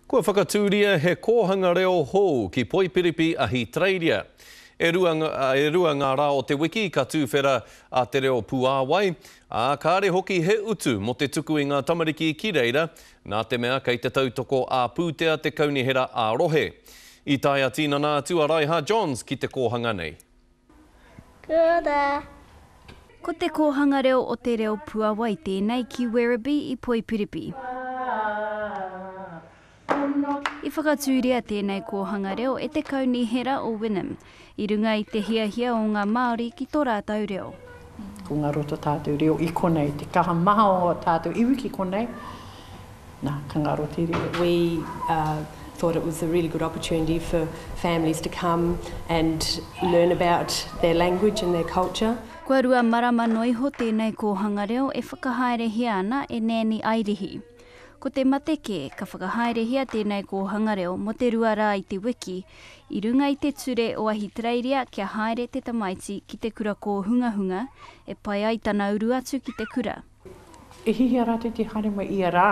Kua whakatūria he kōhanga reo hou ki Poipiripi, Ahitereiria. E rua, e rua ngā rā o te wiki ka tūwhera a Te Reo Puāwai, ā, kāre hoki he utu mō te tuku i ngā tamariki ki reira, nā te mea kei te tautoko ā-pūtea te Kaunihera ā-Rohe. I tae a Tinana atu a Raiha Johns ki te kōhanga nei. Kia ora! Ko te kōhanga reo o te reo puawai tēnei ki Werribee i Poipiripi. I whakatūria tēnei kōhanga reo e te Kaunihera o Wynnum, i runga i te hiahia o ngā Māori ki tō rātou reo. Ko ngā roto tātou reo i konei, te kaha maha o tātou iwi ki konei, nā, ka ngaro te reo. We uh, thought it was a really good opportunity for families to come and learn about their language and their culture. Kua rua marama noa iho tēnei kōhanga reo e whakahaerehia ana e Nēni Airihi. Ko te mate kē, ka whakahaerehia tēnei kōhanga reo mō te rua rā i te wiki, I runga i te ture o Ahitereiria kia haere te tamaiti ki te kura kōhungahunga e pai ai tana uru atu ki te kura. I hihia rātou i te haere mai ia rā,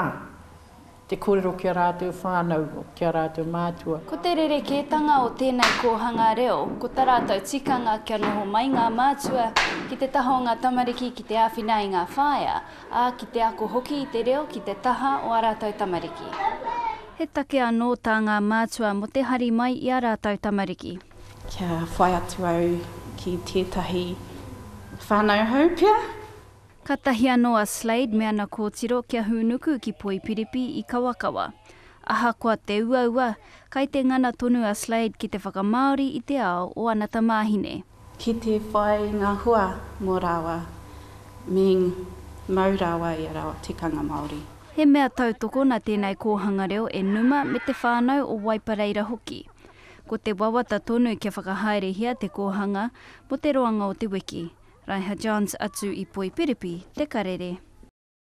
te kōrero ki a rātou whānau, ki a rātou mātua. Ko te rerekētanga o tēnei kōhanga reo, ko ta rātou tikanga kia noho mai ngā mātua ki te taha o ngā tamariki ki te āwhina i ngā whaea, ā, ki te ako hoki i te reo ki te taha o ā rātou tamariki. He take anō tā ngā mātua mō te hari mai i ā rātou tamariki. Kia whai atu au ki tētahi whānau hou pea. Kātahi anō a Slade me ana kōtiro kia hūnuku ki Poipiripi i Kawakawa. Ahakoa te uaua, kai te ngana tonu a Slade ki te whakamāori i te ao o ana tamāhine. Ki te whai ngā hua mō rāua, meaning mau rāua i a rāua tikanga Māori. He mea tautoko nā tēnei kōhanga reo e Numa me te whānau o Waipareira hoki. Ko te wawata tonu kia whakahaerehia te kōhanga mō te roanga o te wiki. Raiha Johns atu i Poipiripi, Te Karere.